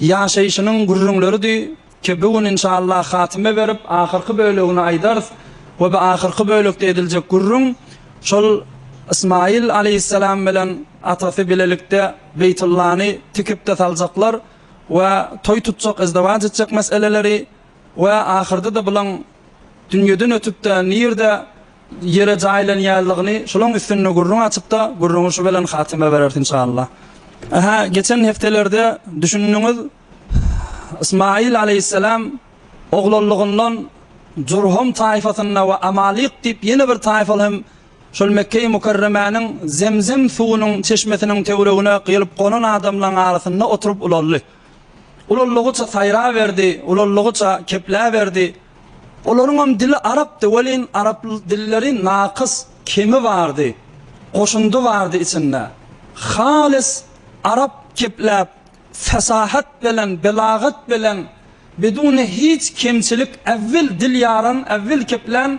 Ýaşaýşynyň gürrüňleridi ki bu gün inşallah hatyma berip ahyrky bölegini aýdarys we bu ahyrky bölekde ediljek gürrüň şol Ysmaýyl aleýhissalam bilen atasy bilelikde Beýtullany tikipde saljaklar we toý tutjak izdiwaç etjek meseleleri we ahyrda-da bulaň dünýeden ötüp-de nirde ýere jaýlanýanlygyny şolaň üstünde gürrüň açyp-da, gürrüňi şu bilen hatyma bereris inşallah. Aha, geçen hepdelerde düşündiňiz, Ysmaýyl aleýhisselam oglanlygyndan Jurhum taýfasynda we Amalyk diýip ýene bir taýfal hem şol Mekge-i Mükerremäniň Zemzem suwunyň çeşmesiniň töweregine gelip gonan adamlaň arasynda oturyp ulaldy. Ulaldygyça saýraberdi, ulaldygyça kepläberdi. Olaryňam dili arapdy welin, arap dilleri nakys, kemi bardy, goşundy bardy içinde. Halys arap kepläp, fesahat belen, belagat belen, biduny hiç kemçilik äwil dil ýaran, äwil keplän,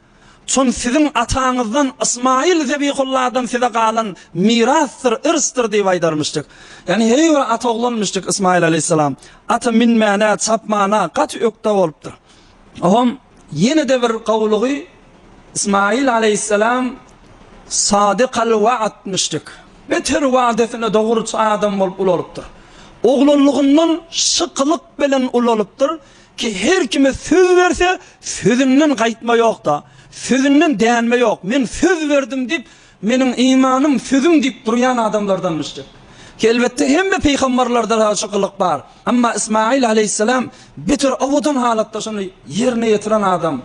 Çün siziň ataňyzdan Ysmaýyl Zebihulladan size galan mirasdyr, irsdir diýip aýdarmyşdyk. Ýagny her bir ata oglanmyşdyk Ysmaýyl aleýhissalam. Ata minmäne, çapmana gaty ökde bolupdyr. Oňam ýene-de bir gowulygy Ysmaýyl aleýhissalam sadykal waatmyşdyk. Beter wadesine dogruçy adam bolup ulalypdyr. Oglanlygyndan şykylyk bilen ulalypdyr. Ki her kime söz berse, sözünden gaýtma ýokda, sözünden dänme ýok. Men söz berdim diýip, meniň imanym sözüm diýip durýan adamlardanmyşdyk. Ki elbetde hemme pygambarlarda-da şu gylyk bar. Emma Ysmaýyl aleýhissalam beter owadan halatda şuny ýerine ýetiren adam.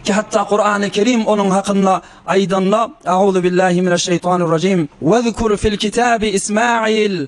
Ki hatda Kurany Kerim onuň hakynda aýdanda, Auzubillahi mineşşeýtanirrajim, Wezkur fil kitabi Ismaýyl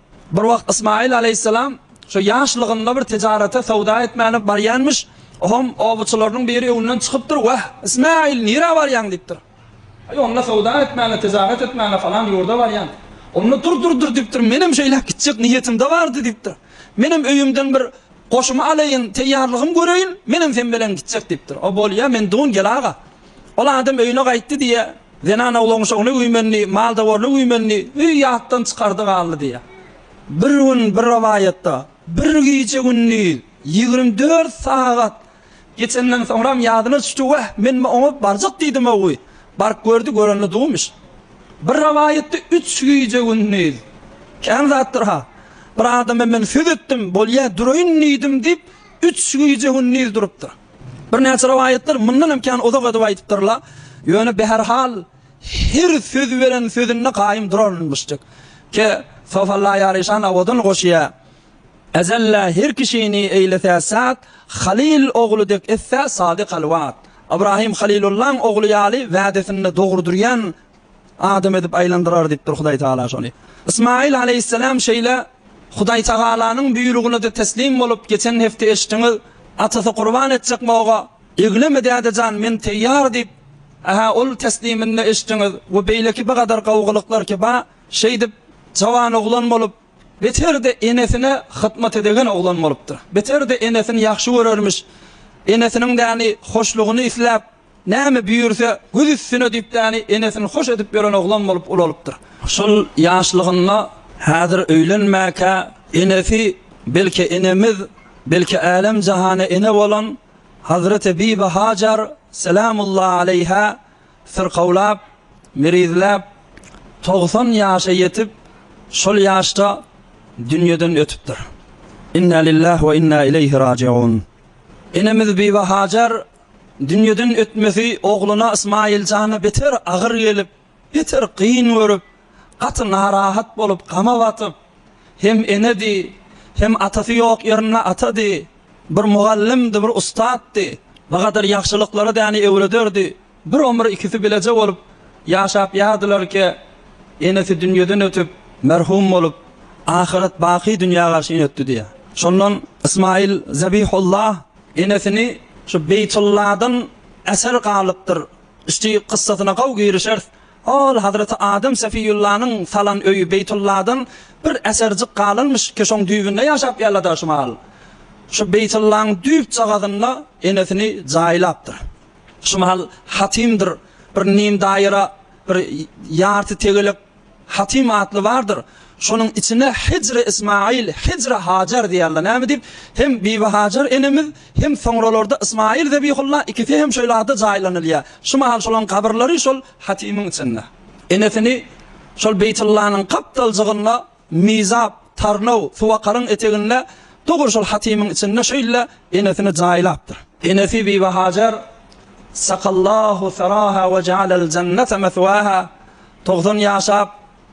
Bir wagt Ysmaýyl alaýhyssalam şo ýaşlygynda bir tijarete, söwda etmäne barýanmyş. Oňam obaçylarynyň biri öňünden çykypdyr, Wah, Ysmaýyl, nirä barýaň? diýipdir. Aý, onda söwda etmäne, tijaret etmäne falan ýurda barýan. Onda dur, dur, dur diýipdir, menem şeýläk gitjek niýetimde bardy diýipdir. Menem öýümden bir goşumy alaýyn, teýýarlygym göreýin, menem sen bilen gitjek diýipdir. O bolýa, men dun, gel aga. Ol adam öýüne gaýtdy diýýä, Zenan awlaňşygyny üýmendi, maldawaryny üýmendi, öý ýatdan çykardy galdy diýýär. Bir gün bir rowaýatda, bir gije-gündiz ýigrimi dört sagat geçenden soňram ýadyna düşdi, Wah, men oňa barjak diýdim-ow, baryp gördi, görende duwmyş. Bir rowaýatda üç gije-gündiz, kän zatdyr-ha. Bir adama men söz etdim, bolýa, duraýyn diýdim diýip, üç gije-gündiz durupdyr. Birnäçe rowaýatlar mundan hem kän uzak edip aýdypdyrlar. Ýöne behärhal her söz beren sözünde gaýym durarmyşdyk. Ke, sofalla ýaryşan awadan goşýa. Ezellä her kişini eýletä sat, Halyl ogly dek etse sady-halwat. Ybrahym Halylullaň ogly ýaly wädesinde dogry durýan Adam edip aýlandyrar diýipdir Hudaý Tagala şony. Ysmaýyl aleýhisselam şeýle Hudaý Tagalanyň buýrugyna-da teslim bolup, geçen hepde eşitdiňiz, atasy gurban etjek boga, Egleme däde jan, men teýýar diýip, Aha, ol tesliminde eşitdiňiz we beýleki bigadar gowgalyklar ki ba, şeýdip, jawan oglan bolup, beter-de enesine hytmat edegen oglan bolupdyr. Beter-de enesini ýagşy görermiş. Enesiniň däni hoşlugyny isläp, Näme büýürse, göz üstüne düýpdäni enesini hoş edip ýören oglan bolup ulalypdyr. Şol ýaşlygynda, häzir öýlenmäkä, enesi, belki enemiz, belki älem-jahana ene bolan hazreti Bibi Hajar selämulla aleýhä syrkawlap, mirizläp, togsan ýaşa ýetip, şol ýaşda dünýeden ötüpdir. Inna lillah we inna ileýhi rajiun. Enemiz Bibi Hajar Dünýeden ötmesi ogluna Ysmaýyljana beter agyr gelip, beter kyn görüp, gaty narahat bolup, gama batyp, hem enedi, hem atasy ýok ýerinde atady, bir mugallymdy, bir ussatdy, bu gadar ýagşylyklary däni öwrederdi, bir omur ikisi bileje bolup ýaşap ýardylarkä, enesi dünýeden ötüp, merhum bolup, ahyret baky dünýä garşy ýötdi diýýär. Şondan Ysmaýyl Zabihullah. Enesini şu Beýtulladan eser galypdyr. Üsti kyssasyna gowy girişeris. Ol Hazreti Adem Sefiýullanyň salan öýi Beýtulladan bir eserjik galynmyş ki şoň düýbünde ýaşap ýalada şu mal. Şu Beýtullaň düýpjagazynda enesini jaýlapdyr. Şu mal hatymdyr bir nim daýra bir ýarty tegelek Hatim atly bardyr. Şonuň içine Hijri Ismaýyl, Hijri Hajar diýerler. Näme diýip, hem Bibi Hajar enemiz, hem soňralarda Ismaýyl Zebihulla ikisi hem şeýle ada jaýlanylýar. Şu mahal şolaryň kabyrlary şol hatimiň içinde. Enesini şol Beýtullanyň gapdaljygynda Mizap, Tarnaw, Suwakaryň eteginde dogry şol hatimiň içinde şeýle enesini jaýlapdyr. Enesi Bibi Hajar, Sakallahu saraha we ja'alel jennete meswaha, Togsan ýaşap,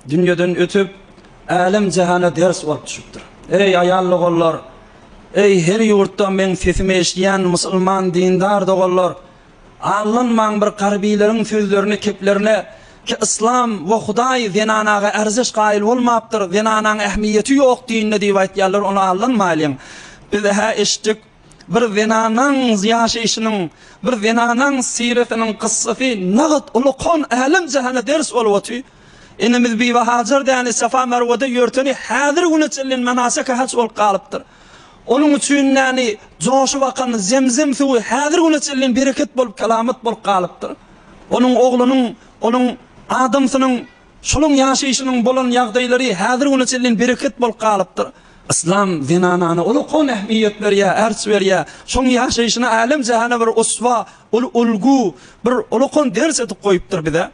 dünýeden ötüp, älem-jahana ders bolup düşüpdir. Eý, aýal doganlar! Eý, her ýurtda meň sesimi eşidýän musulman dindar doganlar! Aldanmaň bir garbyleriň sözlerini keplerine ki yslam we Hudaý zenanaga ärzeş gaýyl bolmapdyr, zenanaň ähmiýeti ýok dinde diýip aýtýarlar, ony aldanmaýlyň. Biz-ä eşitdik. Bir zenanaň ýaşaýşynyň, bir zenanaň syretiniň kyssasy nagyt ulukhan älem-jahana ders bolup otyr. Enemiz Bibi Hajar däli Safa-Merwede ýörteni häzir güne çenli menasek-i haç bolup galypdyr. Onuň üçin däli joşup akan Zemzem suwy häzir güne çenli bereket bolup, kelamat bolup galypdyr. Onuň oglunyň, onuň adamsynyň. Şolaryň ýaşaýşynyň bolan ýagdaýlary häzir güne çenli bereket bolup galypdyr. Yslam zenanana uly-kon ähmiýet berýär, ärç berýär. Şoň ýaşaýşyny älem-jähana bir uswa, uly ulgu, bir uly-kon ders edip goýupdyr bize.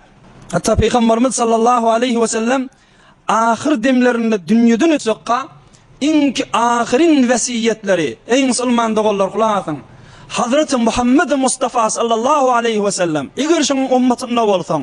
Hatda Pygambarymyz sallallahu aleýhi we sellem ahyr demlerinde dünýeden öçekka iň ahyryn wesýetleri, Eý musulman doganlar gulak asyň! Hazreti Muhammedi Mustafa sallallahu aleýhi we sellem, eger şoň ummatynda bolsaň,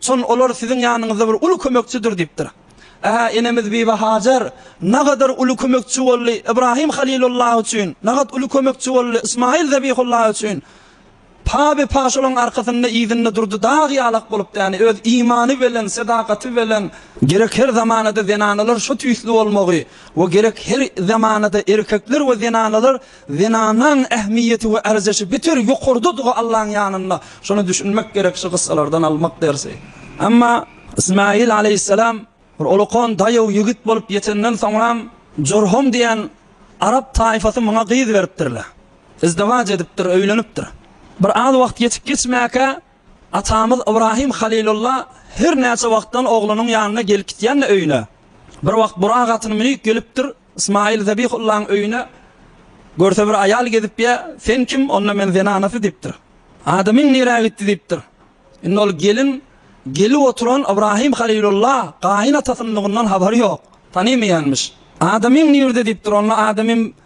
Şon olar siziň ýanyňyzda bir uly kömekçidir diýipdir. Ä, enemiz Bibi Hajar nagadar uly kömekçi boldy, Ybrahym Halilullahy üçin, nagat uly kömekçi boldy, Ysmaýyl Zebihullahy üçin. Pa-be-pa şolaryň arkasynda, yzynda durdy, dag ýalak bolup däni, öz imany belen, sedakaty belen. Gerek her zamanada zenanalar şu tüýsli bolmagy we gerek her zamanada erkekler we zenanalar Zenanyň ähmiýeti we ärjeşi beter ýokardadygy Allaň ýanynda. Şony düşünmek gerek şu gyssalardan almak dersi. Emma Ismaýyl aleýhissalam bir olakan daýaw ýigit bolup ýetenden soňram Jurhum diýen arap taýfasy muňa gyz beripdirler. Izdiwaç edipdir, öýlenipdir. Bir az wagt geçip geçmäkä Atamyz Ybrahym Halylulla her näçe wagtdan oglunyň ýanyna gelip-gitýände öýüne, bir wagt burak atyny münüp gelipdir, Ysmaýyl Zebihullaň öýüne görse bir aýal gezip ýa, sen kim, onda men zenanasy diýipdir. Adamyň nirä gitdi diýipdir. Indi ol gelin gelip oturan Ybrahym Halylulla gaýyn atasynlygyndan habary ýok, tanymaýanmyş. Adamyň nirde diýipdir, onda adamym,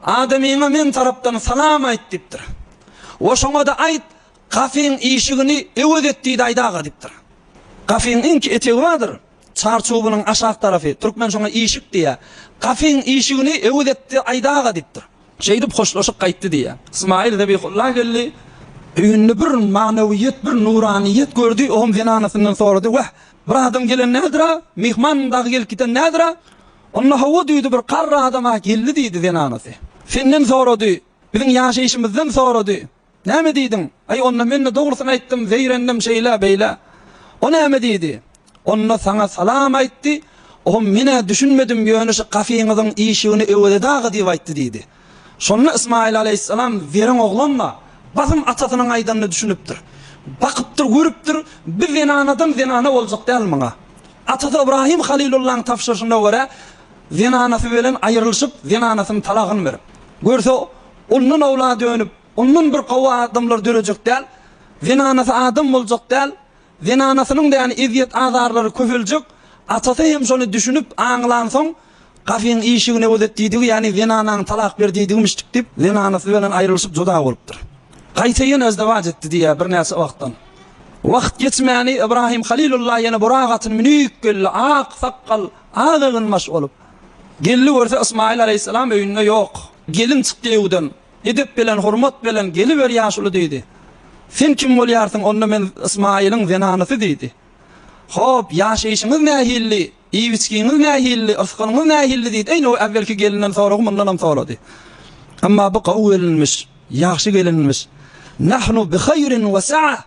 Adamyňa meň tarapdan salam aýt diýipdir. We şoňa-da aýt, Gafyň işigini öwez et diýdi Aýt aga diýipdir. Gafyň iňki etegi bardyr, çar çubunyň aşak tarapy, türkmen şoňa işik diýýär. Gafyň işigini öwez etdi Aýt aga diýipdir. Şeýdip hoşlaşyp gaýtdy diýýär. Ysmaýyl Zebihulla geldi, öýünde bir manawyýet, bir nuranyýet gördi, ogam zenanasyndan sorady, Wah, bir adam gelen nädir-a? Myhman dagy gelip giden nädir-a? Onda hawa düýdi bir garry adam-a geldi diýdi zenanasy. Senden sorady. Biziň ýaşaýşymyzdan sorady. Näme diýdiň? Aý onda men-de dogrusyny aýtdym, zeýrendim şeýle, beýle. O näme diýdi? Onda saňa salam aýtdy, o men-ä düşünmedim ýöne şu kafeňiziň işigini öwezeda-ga diýip aýtdy diýdi. Şonda Ysmaýyl alaýhyssalam zerň oglan-la, basym atasynyň aýdanyna düşünipdir. Bakypdyr, görüpdir, bu zenanadan zenana boljak däl muňa. Atasy Ybraýym halylullaň tabşyryşyna görä, zenanasy bilen aýrylyşyp, zenanasynyň talagyny berip. Görse, ondan owlady önüp, ondan bir gowy adamlar dörejek däl, zenanasy adam boljak däl, Zenanasynyň däni ezýet-azarlary köpeljek, atasy hem şony düşünip, aňlansoň, Gafyň işigine gözet diýdigi, ýagny zenanaňy talak ber diýdigimişdik diýip, zenanasy bilen aýrylyşyp juda bolupdyr. Gaýta ýene özdewaç etdi diýýär birnäçe wagtdan. Wagt geçmäni Ybrahym Halylulla ýene burak atyny münüp geldi, ak sakgal, ak eginbaş bolup. Geldi görse Ysmaýyl alaýhyssalam öýünde ýok. Gelin çykdy öýden. Edep bilen, hormat bilen geliber, ýaşuly, diýdi. Sen kim bolýarsyň? Onda men Ysmaýylyň zenanysy, diýdi. Hop, ýaşaýşyňyz nähilli, iýip-içgiňiz nähilli, ysgynyňyz nähilli, diýdi. Eýni o äwwelki gelinden soragy mundanam sorady. Emma bu gowy gelinmiş, ýagşy gelinmiş. Nahnu bi haýrin we sa'a.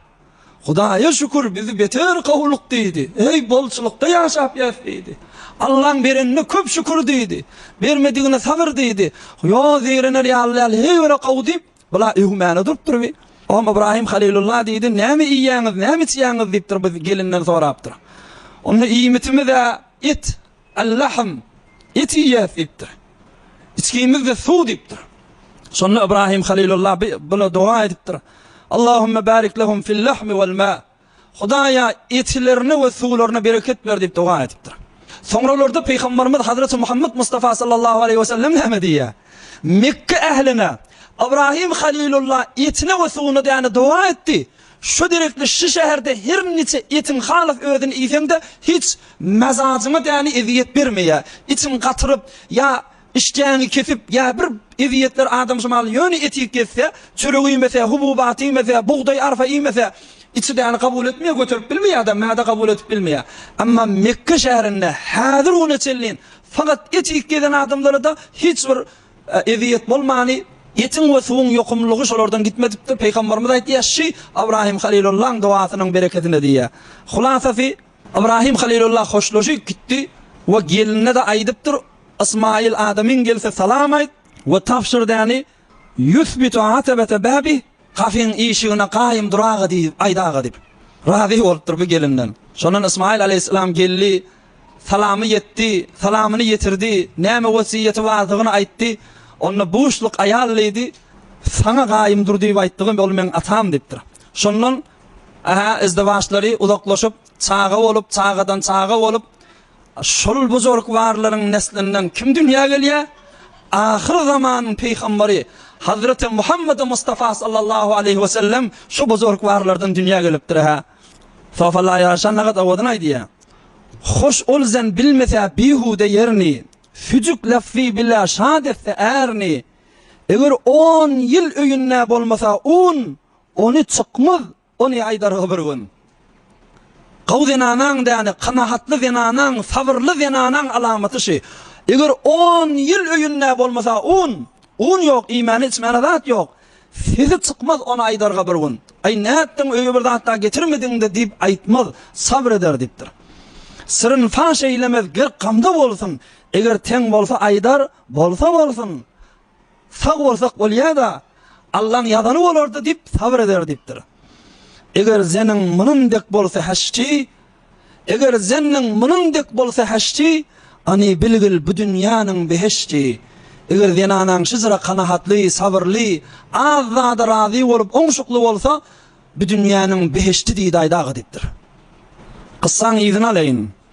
Hudaýa şükür, bizi beter gowulyk diýdi. Eý, bolçulykda ýaşapýas diýdi. Allaň berenine köp şükür diýdi. Bermedigine sabyr diýdi. Ýo, zeýrener ýaly däl, heýwere gowy diýip, bula öwmäne durupdyr bi. Oňa Ybraýym halylulla diýdi, Näme iýýäňiz, näme içýäňiz diýipdir, bi gelinden sorapdyr. Onda iýmitimiz-ä et. Allahym, et iýýäs diýipdir. Içgimiz-de suw diýipdir. Şonda Ybrahym Halilullah bi buna doga edipdir, Allahümme barik lehum fil lahmi wal ma. Hudaýa etilerine we suwlaryna bereket ber diýip doga edipdir. Soňralarda Pygamberimiz Hazreti Muhammet Mustafa sallallahu aleýhi we sellem näme diýýär? Mekge ähline, Ybrahym Halilullah etine we suwuna däne doga etdi. Şu direktli şu şäherde her niçe etiň halas özüni iýseňde hiç mazajyňa däni eziyet bermeýä. Içiň gatyryp ýa işdäňi kesip ýa bir eziyetler adam şumal ýöne eti kesse çörek iýmese hububat iýmese bugdaý arfa iýmese içi däni gabul etmeýä göterip bilmeýä adam mäde gabul edip bilmeýä. Amma Mekge şäherinde häzir güne çenli fakat et iýip gezen adamlara da hiç bir Ezýet bolmany, etiň we suwuň ýokumlylygy şolardan gitmedipdir. Pygamberimiz aýtýar, Şy Ybrahim Halilullahyň dogasynyň bereketine diýýär. Hulasasy, Ybrahim Halilullah hoşlaşyp gitdi we gelnine-de aýdypdyr, Ysmaýyl adamyň gelse salam aýt we tabşyr däni, Ýusbitu atebete bäbih, Kafeň işigine Gaýym dur aga diýip, aýt aga diýip. Razy bolupdyr bu gelinden. Şondan Ysmaýyl aleýhissalam geldi, salamy ýetdi, salamyny ýetirdi, näme wesýeti bardygyny aýtdy. Onda buşluk aýal diýdi, Saňa Gaýym dur diýip aýtdygym, ol meň atam diýipdir. Şondan, ä, izdiwaçlary uzaklaşyp, çaga bolup, çagadan çaga bolup, Şol buzrukwarlaryň neslinden kim dünýä gelýär? Ahyr zamanyň pygambary Hazreti Muhammedi Mustafa sallallahu aleýhi we sellem şu buzrukwarlardan dünýä gelipdir hä. Sofalar ýaraşan nagat owadan aýdýar. Hoş ol zen bilmese bihude ýerini, Süjük lafzy bile şat etse ärini. Eger on ýyl öýünde bolmasa un, Ony çykmaz, Ony aýdarga bir gün. Gowy zenanaň däne, kanagatly zenanaň, sabyrly zenanaň alamaty şi. Eger on ýyl öýünde bolmasa un, un ýok, iýmäne-içmäne zat ýok. Sesi çykmaz ony aýdarga bir gün. Aý, nätdiň, öýe bir zat-da getirmediň-de diýip aýtmaz, sabyr eder diýipdir. Syryny faş eýlemez, gerk gamda bolsun, eger teň bolsa aýdar, bolsa bolsun. Sag bolsak bolýada, Allaň ýazany bolardy diýip sabyr eder diýipdir. Eger zenin munin dek bolsa heşçi, Eger zenniň munin dek bolsa heşçi, Any bilgil bu dünýäniň beheşçi. Eger zenanaň şyjra kanahatly, sabyrly, az zada razy bolup oňşukly bolsa, bu dünýäniň beheşçi diýdi-aýdaga diýipdir. Kyssaň yzyny alaýyn.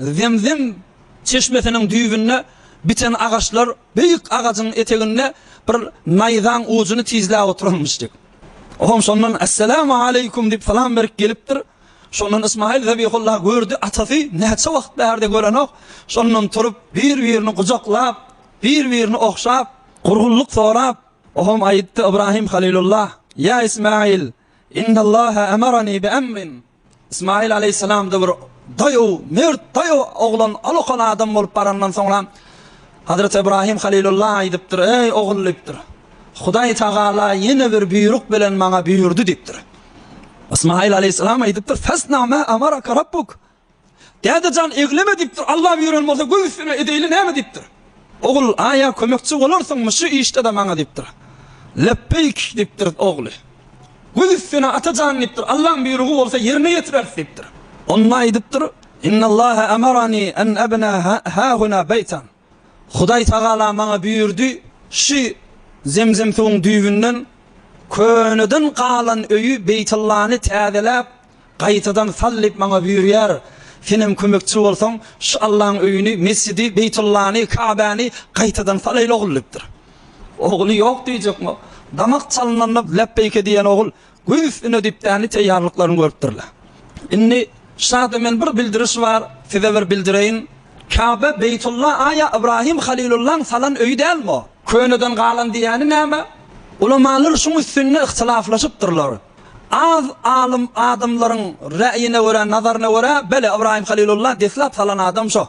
Zemzem çeşmesiniň düýbünde biten agaçlar beýik agajyň eteginde bir naýzaň ujuny tizläp oturanmyşdy. Olam şondan Esselamu aleýkum diýip salam berip gelipdir. Şondan Ysmaýyl Zebihulla gördi, atasy näçe wagt bärde görenok. Şondan turup, bir-birini gujaklap, bir-birini ogşap, gurgunlyk sorap, olam aýtdy, Ybrahym Halylulla, Ýa Ysmaýyl, innallaha amarani bi amrin. Ysmaýyl alaýhyssalam-da bir daýaw, mert, daýaw oglan, alokal adam bolup barandan soňra, Hazreti Ybraýym halylulla aýdypdyr, Eý, ogul! diýipdir. Hudaý tagala ýene bir buýruk bilen maňa buýurdy diýipdir. Ysmaýyl alaýhyssalam aýdypdyr, Fesna ma amaraka rabbuk! Dädejan egleme diýipdir, Alla buýran bolsa göz üstüne edeýli näme diýipdir. Ogul, aýa kömekçi bolarsyňmy şu işde-de maňa diýipdir. Lepbeýk diýipdir ogly. Göz üstüne atajan diýipdir, Allaň buýrugy bolsa ýerine ýetireris diýipdir. Onda aýdypdyr, Innallaha amarani an abna hahuna beýtan. Hudaý tagala maňa buýurdy, Şu Zemzem suwuň düýbünden köneden galan öýi Beýtullany täzeläp, gaýtadan sal diýip maňa buýurýar. Senem kömekçi bolsaň, şu Allaň öýüni, mesjidi, Beýtullany, Kabäni gaýtadan salaýyl ogul diýipdir. Ogly ýok diýjekmi? Damak çalynanda läpbeýke diýen ogul Göz üstüne düýpdäli teýýarlyklaryny görüpdirler. Indi şada men bir bildiriş bar, size bir bildireýin. Käbe Beýtulla aýa Ybrahym Halylullaň salan öýi dälmo? Köneden galan diýýäni näme? Ulamalar şuň üstünde yhtilaflaşypdyrlar. Az alym adamlaryň räýine görä, nazaryna görä, bele Ybrahym Halylulla deslap salan adam şo.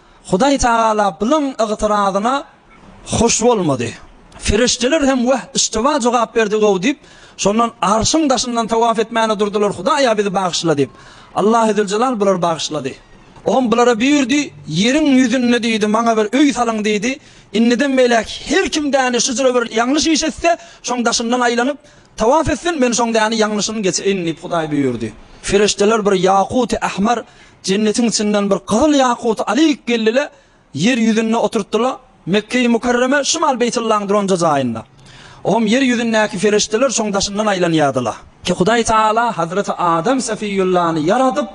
Hudaý Tagala bunuň ygtyrazyna hoş bolmady. Perişdeler hem Wah, yştyba jogap berdigow diýip, şondan Arşyň daşyndan tawaf etmäne durdular, Hudaýa bizi bagyşla diýip. Allahy Züljelal bulary bagyşlady. Olam bulara buýurdy, Ýeriň ýüzünde diýdi, maňa bir öý salyň diýdi. Indiden beýläk her kim däne şujra bir ýalňyş iş etse, şoň daşyndan aýlanyp, tawaf etsin, men şoň däne ýalňyşyny geçirin diýip Hudaý buýurdy. Perişdeler bir ýakuty ahmar, Jennetiň içinden bir gyzyl ýakuty alyk geldi-le, ýer ýüzünde oturtdy-la, Mekge-i Mükerreme şymal Beýtullaň duranja jaýynda. Oňam ýer ýüzündäki perişdeler şoň daşyndan aýlanýardy-la. Ki Hudaý Tagala Hazreti Adam Sefiyullany ýaradyp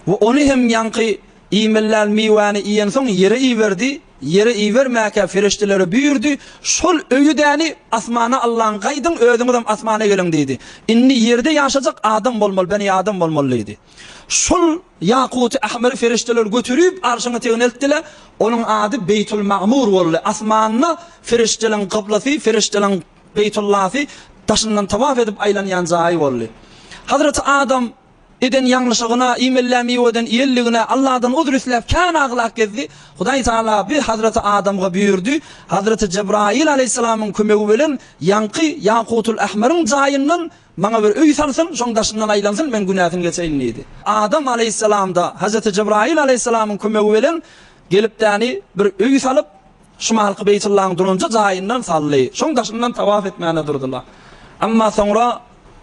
we ony hem ýaňky iýmeliäl miwäni iýensoň ýere iberdi, ýere ibermäkä perişdelere buýurdy, Şol öýüdäni asmana Allaň gaýdyň, özüňizem asmana geliň diýdi. Indi ýerde ýaşajak adam bolmaly, beni adam bolmaly diýdi. Şol ýakuty ahmyry ferişdeler göterip, arşyň etegine eltdiler. Onuň ady Beýtulmagmur boldy. Asmanda ferişdeleriň kyblasy, ferişdeleriň Beýtullasy, daşyndan tawaf edip aýlanýan jaýy boldy. Hazreti Adam eden ýalňyşygyna, iýmelýän miweden iýenligine Alladan uzr isläp, kän aglap gezdi. Hudaý Tagala bir Hazreti Adamga buýurdy, Hazreti Jebraýyl alaýhyssalamyň kömegi bilen ýaňky ýakutul ahmyryň jaýyndan Maňa bir öý salsyn, şoň daşyndan aýlansyn, meň günäsim geçeýin diýdi. Adam alaýhyssalam-da, Hajati Jybraýyl alaýhyssalamyň kömegi bilen gelip däni bir öý salyp, şumalky Beýtullaň duranja jaýyndan saldy. Şoň daşyndan tawaf etmäne durdular. Emma soňra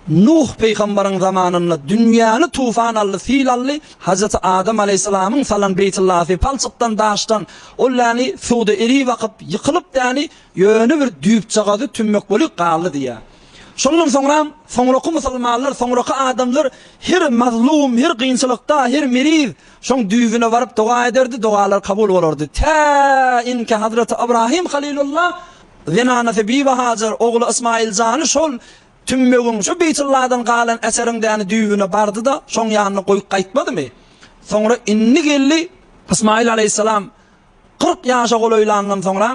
Nuh pygambaryň zamanynda dünýäni tufan aldy, sil aldy, Hajati Adam alaýhyssalamyň salan Beýtullasy palçykdan, daşdan, ol däni suwda erip akyp, ýykylyp däni ýöne bir düýpjagazy tümmek bolup galdy diýýär. Şondan soňra, soňraky musulmanlar, soňraky adamlar her mazlum, her kynçylykda, her meriz şoň düýbüne baryp doga ederdi, dogalary kabul bolardy. Tä inki Hazreti Ybrahym Halilullah, zenanasy Bibi Hajar, ogly Ysmaýyl jany şol tümmegiň, şo Beýtulladan galan eseriň däni düýbüne bardy-da, şoň ýanyna goýup gaýtmadymy? Soňra indi geldi, Ysmaýyl alaýhyssalam kyrk ýaşa golaýlandan soňra,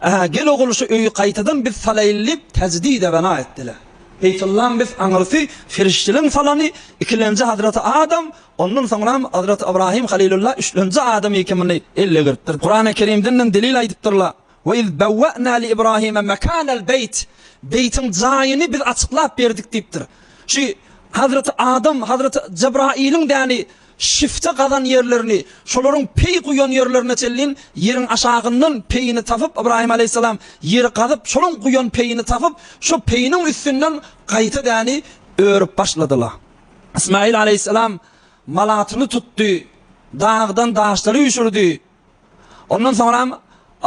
Ä, gel ogul şu öýi gaýtadan biz salaýyl diýip täjdide bena etdiler. Beýtullam biz aňyrsy perişdeleň salany ikilenji hazreti Adam, ondan soňram hazreti Ybrahym Halylulla üçlenji Adam ekimini elle gyrpdyr. Kurany Kerimdenden delil aýdypdyrlar, Ve iz bewwe'na li Ibrahime mekanel beýt, beýtiň jaýyny biz açyklap berdik diýipdir. Şu hazreti Adam, hazreti Jebraýylyň däni Şifte gazan ýerlerini, şolaryň peý guýan ýerlerine çenlin, ýeriň aşagyndan peýini tapyp, Ybraýym alaýhyssalam ýeri gazyp, şolaň guýan peýini tapyp, şo peýiniň üstünden gaýta däni örüp başladyla. Ysmaýyl alaýhyssalam malatyny tutdy, dagdan daşlary üşürdi. Ondan soňram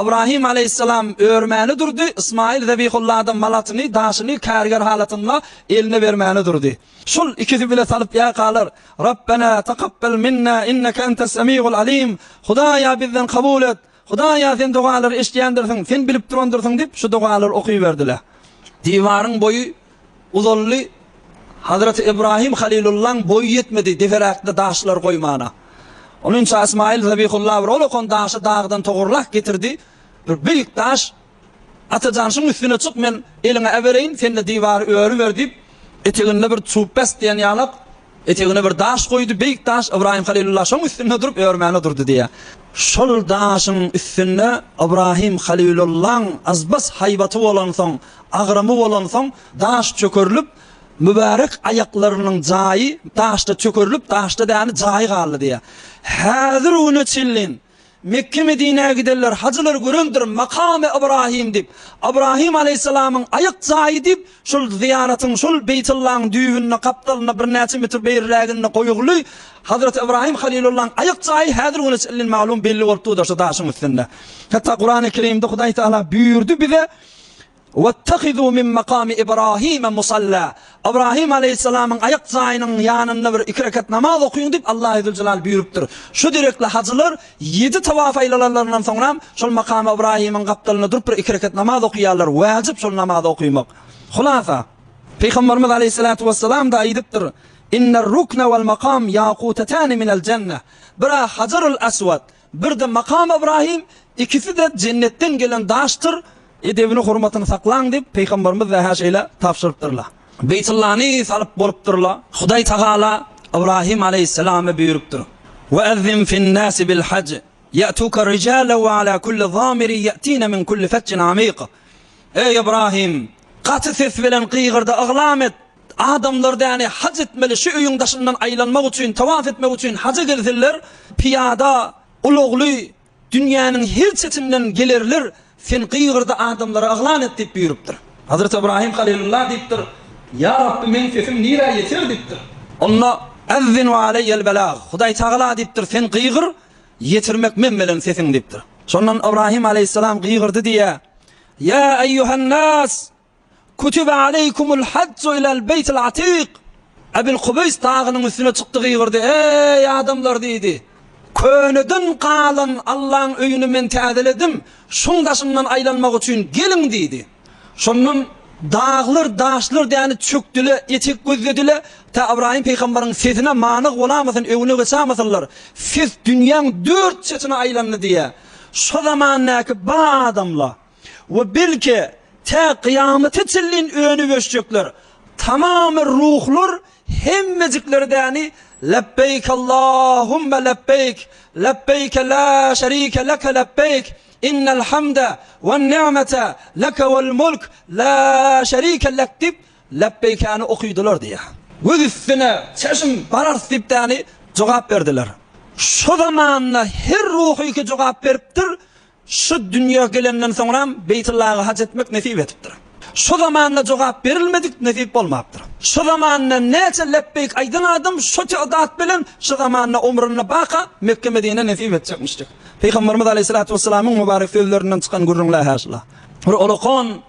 Ybrahym aleýhissalam örmäni durdy, Ysmaýyl zebihullada malatyny, daşyny kärger halatynda eline bermäni durdy. Şol ikisi bile salyp ýakalar, Rabbena takabbel minna inneke entes semiul alim, Hudaýa bizden kabul et, Hudaýa sen dogalary eşidýändirsiň, sen bilip durandyrsyň diýip şu dogalary okyberdiler. Diwaryň boýy. Uzaldy Hazreti Ibrahim Halilullaň boýy ýetmedi deperäkde daşlar goýmana. Onuňça Ysmaýyl Zabihulla bir ol okan daşy dagdan togurlak getirdi. Bir beýik daş Atajan şuň üstüne çyk men eliňe äbereýin sende diwary öriber diýip eteginde bir çup bäs diýen ýalak Etegine bir daş goýdy, beýik daş, Ybraýym Halylulla şoň üstünde durup, örmäne durdy diýýär. Şol daşyň üstünde Ybraýym Halylullaň azbas haýbaty bolansoň, agramy bolansoň, daş çökerilip, mübärek aýaklarynyň jaýy daşda çökerilip, daşda däni jaýy galdy diýýär. Häzir-ugüne çenlin Mekge-Medinä gidenler hajylar görendir Makamy Ybraýym diýip, Ybraýym alaýhyssalamyň aýak jaýy diýip, şol zyýaratyň, şol Beýtullaň düýbünde, gapdalynda birnäçe metr beýrräginde goýguly Hazreti Ybraýym Halilullaň aýak jaýy häzir güne çenli maglumy belli bolup durda şu daşyň üstünde. Hatda Kurany Kerimde Hudaý Tagala buýurdy bize, Wettehizû min makamy Ibrahime musalla, Ybrahym aleýhissalamyň aýak jaýynyň ýanynda bir iki rekat namaz okyň diýip, Allahy Züljelal buýrupdyr. Şu derekli hajylar ýedi tawaf aýlalanlaryndan soňram, şol makamy Ybrahymyň gapdalynda durup bir iki rekat namaz okyýarlar, wajyp şol namazy okymak. Hulasa, Pygamberimiz aleýhissalatu wessalam-da aýdypdyr, Inner rukne wal makam ýakutetani minel jenne, Bira Hajarul-Aswad, Birde Makam Ybraýym, Ikisi-de jennetden gelen daşdyr, edebini, hormatyny saklaň diýip, Pygamberimiz Zähä şeýle tabşyrypdyrlar. Beýtullany salyp bolupdyrlar. Hudaý Tagala Ybraýym aleýhissalama buýrupdyr, Ve ezzin fin-nasi bil-haj, ýe'tuke rijalan ve ala kulli zamirin ýe'tine min kulli fejjin amik. Eý Ybraýym, gaty ses bilen gygyrda yglam et, Adamlar däne haj etmeli şu öýüň daşyndan aýlanmak üçin, tawaf etmek üçin haja gelsinler, pyýada, ulagly, dünýäniň her çetinden gelerler, Sen gygyrdy adamlara yglan et diýip buýrupdyr. Hazreti Ybraýym Halylulla diýipdir, Ýa Rabbi, meň sesim nirä ýeter diýipdir. Onda, Ezzin we aleýel belag, Hudaý tagala diýipdir, Sen gygyr, ýetirmek men bilen sesiň diýipdir. Şondan Ybraýym aleýhissalam gygyrdy diýýär, Ýa eýýuhen nas! Kutibe aleykumul hajju ilel beýtil atik. Ebil Kubeýs dagynyň üstüne çykdy gygyrdy, Eý, adamlar! diýdi. Köneden galan Allaň öýüni men täzeledim, şoň daşyndan aýlanmak üçin geliň! diýdi. Şondan daglar, daşlar däni çökdüle, etek gözledile, tä Ybraýym pygambaryň sesine manyk bolamasyn, öňüne geçamasynlar. Ses dünýäň dört çetine aýlandy diýýä. Şo zamandäki bar adamla. We belki, tä kyýamata çenlin önüp ösjekler, tamamy ruhlar hemmejikleri däni Lebbeýk Allahumma lebbeýk, lebbeýke la şerike leke lebbeýk, innel hamde wen ni'mete leke wel mulk la şerike lek diýip, lebbeýkäni okydylar diýýär. Göz üstüne çeşm bararys diýip däni jogap berdiler. Şo zamanda her ruhyky jogap beripdir, Şu dünýä gelenden soňram Beýtullaga haj etmek nesip edipdir. Şu zamanda jogap berilmedik nesip bolmapdyr. Şu zamanda näçe lepbeýk aýdan adam şo tagdat bilen şu zamanda omrunda baka Mekge-Medine nesip etjekmişjik. Pygamberimiz Aleýhisalatu Wessalamyň mubarek sözlerinden çykan gürrüň Lähäşla. Bir olakon.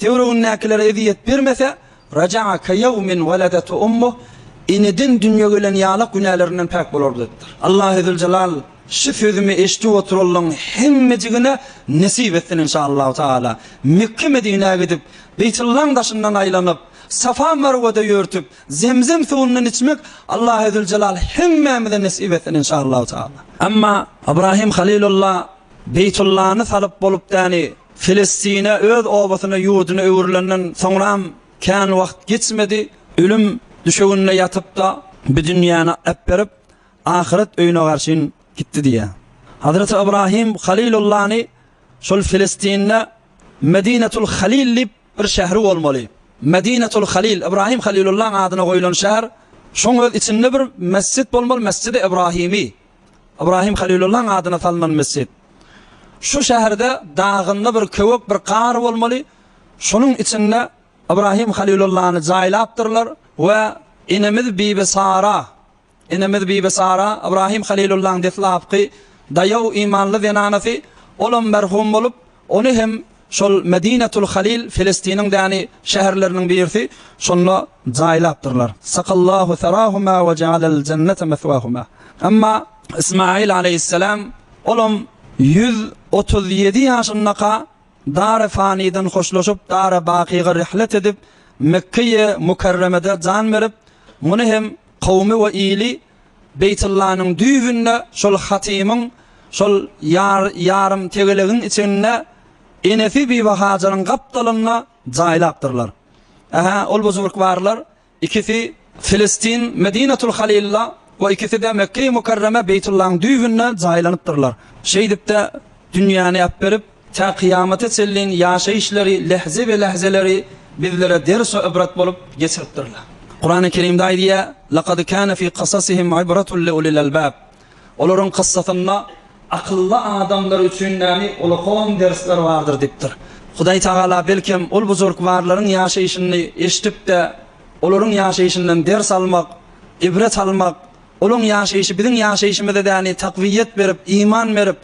Töweregindäkilere ezýet bermese, Raja'a ka ýewmin weledethu ummuh, Eneden dünýä gelen ýalak günälerinden päk bolar diýipdir. Allahy Züljelal şu sözümi eşidip oturanlaryň hemmejigine nesip etsin inşallahu taala. Mekge-Medinä gidip, Beýtullaň daşyndan aýlanyp, Safa-Marwada ýörtüp, Zemzem suwundan içmek Allahy Züljelal hemmämize nesip etsin inşallahu taala. Emma Ybrahim Halilulla Beýtullany salyp bolupdäni? Filistine, öz obasyna, ýurduna öwrülenden soňram kän wagt geçmedi, ölüm düşeginde ýatyp-da, bu dünýäni äpberip, ahyret öýüne garşyn gitdi diýýär. Hazreti Ybrahym Halylullany şol Filistinde Medinetul Halyl diýip bir şäheri bolmaly. Medinetul Halyl, Ybrahym Halylullaň adyna goýlan şäher. Şoň öz içinde bir mesjit bolmaly, Mesjidi Ybrahymy. Ybrahim Halylullaň adyna salnan mesjit. Şu şäherde dagynda bir köwek bir gar bolmaly, şonuň içinde Ybrahim Halylullany jaýlapdyrlar we enemiz Bibi Sara, enemiz Bibi Sara Ybrahim Halylullaň deslapky daýaw imanly zenanasy, olam merhum bolup, Ony hem şol Medinatul Halil, Filistiniň däni, şäherleriniň birisi, şonda jaýlapdyrlar. Sakallahu serahuma we jealel jennete meswahuma. Emma Ysmaýyl aleýhisselam, olam ýüz otuz ýedi ýaşyndaka dary faniden hoşlaşyp, dary bakyga rihlet edip, Mekkeýi Mukerremede jan berip, muny hem kowumy we ili Beýtullanyň düýbünde şol hatymyň, şol ýarym tegelegiň içinde enesi Bibi Hajyryň gapdalynda jaýlapdyrlar. Ähä, ol buzurgwarlar, ikisi Filistin, Medinatul Halilda we ikisi-de Mekge-i Mukarreme, Beýtullanyň düýbünde jaýlanypdyrlar. Şeýdip-de dünýäni äberip, Tä kyýamata çenlin ýaşaýyşlary, lähze we lähzeleri bizlere ders we ibrat bolup geçiripdirler. Kurany Kerimde aýdýar, Lekad kâne fî kasasihim ibratun li ulil albâb. Olaryň kyssasynda akylly adamlar üçin näme uly-kom dersler bardyr diýipdir. Hudaý Tagala belkem ol bujurkbarlaryň ýaşaýşyny eşidip-de, olaryň ýaşaýşyndan ders almak, ibret almak, olaň ýaşaýşy biziň ýaşaýşymyza däli takwiýet berip, iman berip,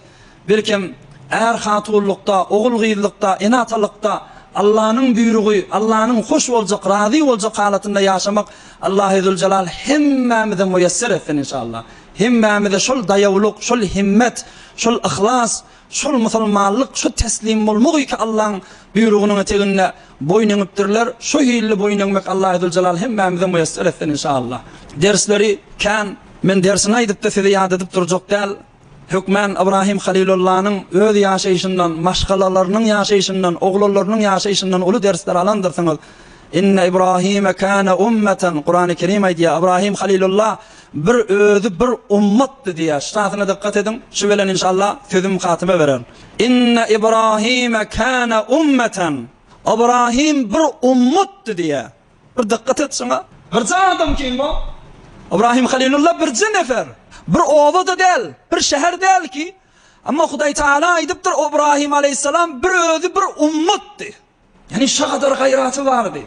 Birkem, är hatunlykda, ogul gyzlykda, ene atalykda Allanyň buýrugy, Allanyň hoş boljak, razy boljak halatynda ýaşamak Allahy Züljelal hemmämize muýesser etsin inşallah. Hemmämize şol daýawlyk, şol himmet, şol yhlas, şol musulmanlyk, şu teslim bolmak iki Allaň buýrugynyň eteginde boýun eňipdirler. Şu hilli boýun eňmek Allahy Züljelal hemmämize muýesser etsin inşallah. Dersleri kän, men dersini aýdypda size ýat edip durjak däl. Hökmän Ybrahym Halylullanyň öz ýaşaýşyndan, maşgalalarynyň ýaşaýşyndan, oglanlarynyň ýaşaýşyndan uly dersler alandyrsyňyz. Inne Ybrahyme kana ummeten, Kurany Kerim aýdýar, Ybrahym Halylulla bir özi bir ummatdy diýýär. Ştasyna dykgat ediň, şu bilen inşallah sözüm hatyma berer. Inne Ybrahyme kana ummeten, Ybrahym bir ummatdy diýýär. Bir dykgat et şuňa. Birje adam kim bu? Ybrahim Halilulla birje nefer. Bir oba-da däl, bir şäher däl ki, emma Hudaý Tagala aýdypdyr, Ybrahim aleýhissalam bir özi bir ummatdy. Ýagny şa gadar gaýraty bardy.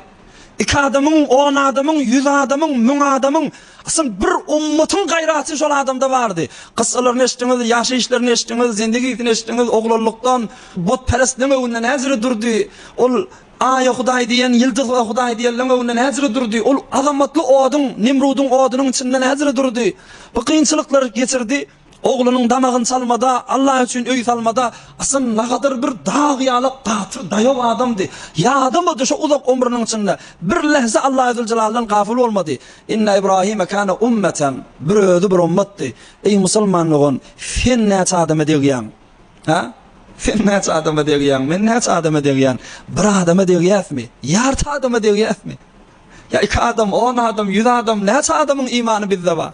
Iki adamyň, on adamyň, ýüz adamyň, müň adamyň, asyl bir ummatyň gaýraty şol adamda bardy. Kyssalaryny eşitdiňiz, ýaşaýyşlaryny eşitdiňiz, zendegisini eşitdiňiz, oglanlykdan butperestligiň öňünde näzire durdy. Ol Aýa hudaý diýen, ýyldyza hudaý diýen löňeginde näzire durdy. Ol azamatly oduň, Nemrudyň odunyň içinde näzire durdy. Bu kynçylyklary geçirdi. Oglunyň damagyny çalmada, Alla üçin öý salmada Hasan nagadyr bir dag ýaly gaty daýaw adamdy. Ýadamady şo uzak ömrüniň içinde bir lähze Allazüljelaldan gafyl bolmady. Inne Ibrahime kâne ummeten, bir özi bir ummatdy. Eý musulman dogan, sen näçe adama degýäň? Hä? Sen näçe adama degýäň? Men näçe adama degýän? Bir adama degýäsmi? Ýarty adama degýäsmi? Ýa iki adam, on adam, ýüz adam, näçe adamyň imany bizde bar?